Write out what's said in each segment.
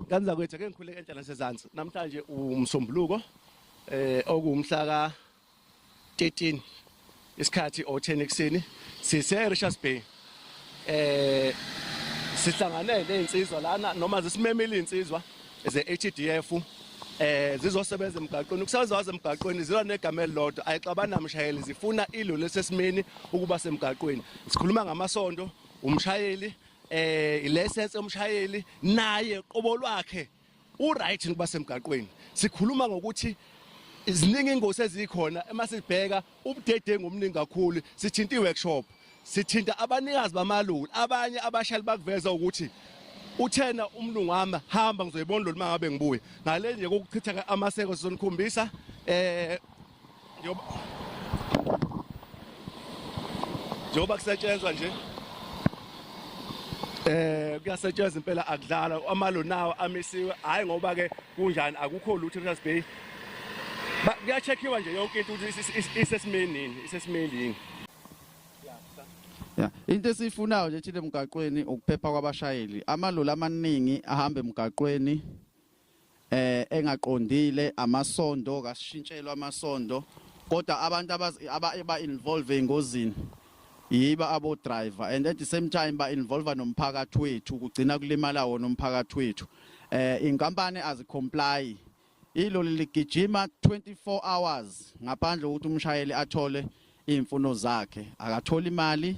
Kanza kwethu ake ngikhuleke enhla nasezansi. Namhlanje umsombuluko eh okuwumhla ka 13 isikhathi o 10 ekseni sise Richards Bay. Eh sihlangane nezinsizwa lana noma zisimemile izinsizwa ze HDF eh zizosebenza emgaqweni ukusazaza emgaqweni zilwa negama elilodwa ayixabani namshayeli zifuna iloli lesesimeni ukuba semgaqweni sikhuluma ngamasondo umshayeli eh license yomshayeli naye qobo lwakhe uright ukuba semgaqweni sikhuluma ngokuthi iziningi ingozi ezikhona uma sibheka ubudedengu omningi kakhulu sithinta i-workshop sithinta abanikazi bamaloli abanye abashali bakuveza ukuthi uthena umlungu wami hamba ngizoyibona lolu mangabe ngibuye ngale nje kokuchitha amaseko sizonikhombisa eh njengoba kusetshenzwa nje eh kuyasetshenzwa impela akudlala amalo nawo amisiwe hayi ngoba ke kunjani akukho lutho eRichards Bay kuyacheckiwa nje yonke into ukuthi isesimeni nini isesimeni yini Yeah. Into esiyifunayo nje thina emgaqweni ukuphepha kwabashayeli. Amaloli amaningi ahamba emgaqweni eh engaqondile amasondo kasishintshelwa amasondo kodwa abantu aba involve engozini yiba abo driver and at the same time ba involve nomphakathi wethu kugcina kulimala wona umphakathi wethu eh inkampani azicomply iloli ligijima 24 hours ngaphandle ukuthi umshayeli athole imfuno zakhe akatholi imali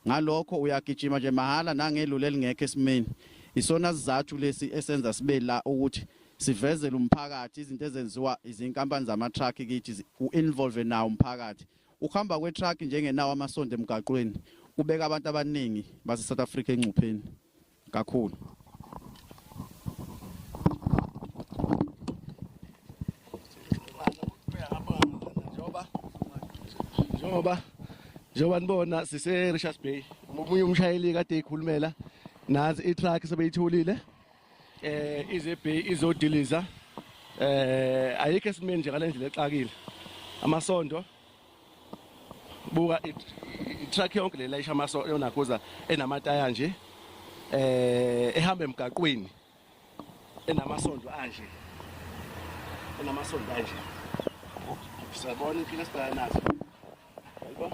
Ngalokho uyagijima nje mahhala nangelule elingekho esimeni. Isona sizathu lesi esenza sibe la ukuthi sivezele umphakathi izinto ezenziwa izinkampani zama-truck kithi ku-involve nawo umphakathi. Ukuhamba kwe-truck njengenawo amasondo emgaqweni kubeka abantu abaningi base-South Africa engcupheni. kakhulu njengoba njengoba nibona sise Richards Bay omunye umshayeli kade ekhulumela nazi i-truck sebeyitholile eh ize Bay izodiliza eh ayikho esimeni nje ngalendlela exakile amasondo buka itruck yonke le layisha amaso yona kuza enamataya nje eh ehamba emgaqweni enamasondo anje enamasondo anje siyabona inkinga esibhekana nazo yebo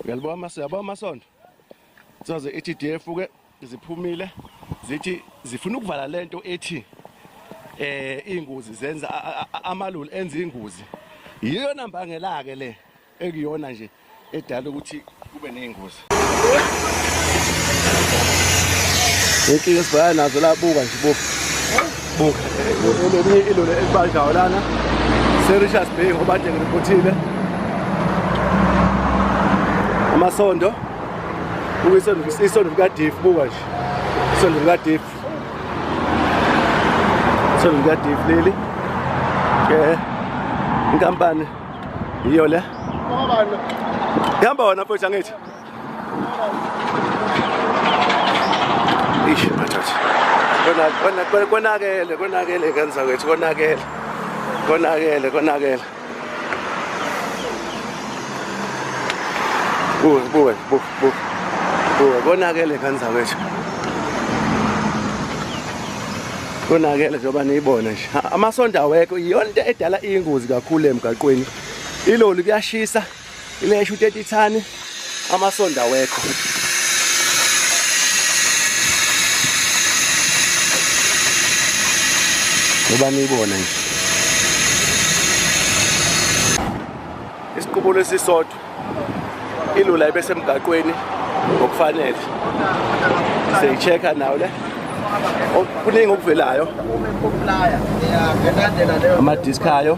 uyalibona amasondo Saze iTDF ke ziphumile zithi zifuna ukuvala lento ethi eh ingozi zenza amaloli enza ingozi yiyo nambangela ke le ekuyona nje edala ukuthi kube nezingozi Inkinga esibhaya nazo la buka nje buka buka leli ilole elibanjayo lana seRichards Bay ngoba nje ngiripotile amasondo isondo likadefu buka nje isondo likadefu isondo likadefu leli ke inkampani yiyo le ihamba wona mfowethu angithi ish mathatha konakele konakele kanzakwethu konakele konakele konakele buke buke buke buke buke konakele kanza wethu konakele njengoba niyibona nje amasondo awekho iyona into edala iyingozi kakhulu emgaqweni iloli kuyashisa Imesha u-30 thani amasondo awekho. Ngoba niyibona nje. Isiqubulo esisodwa ilula ibe semgaqweni ngokufanele. Siyichecka nawo le. kuningi okuvelayo ama-disk ayo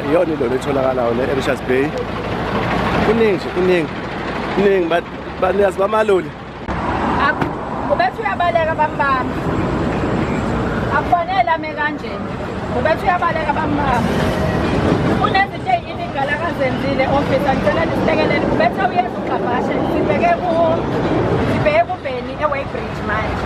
iyona ilona etholakalayo le eRichards Bay kuningi nje kuningi kuningi baniyazi bamaloli ubethi uyabaleka bambami akufanele ame kanjena ubethi uyabaleka bambami kunezinto eyilegal akazenzile ofisa ngicela nisilekelele ubetha uyeza ugxabhashe sibheke ku sibheke kubheni eway bridge manje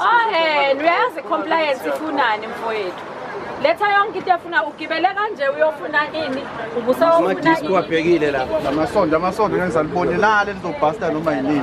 Ohen, uyazi compliance ifunani mfowethu. Letha yonke into efuna ugibele kanje uyofuna ini? Ubusawofuna ini? Amadisco abhekile la. Amasondo amasondo ngenzalibone lale lizobhasta noma yini.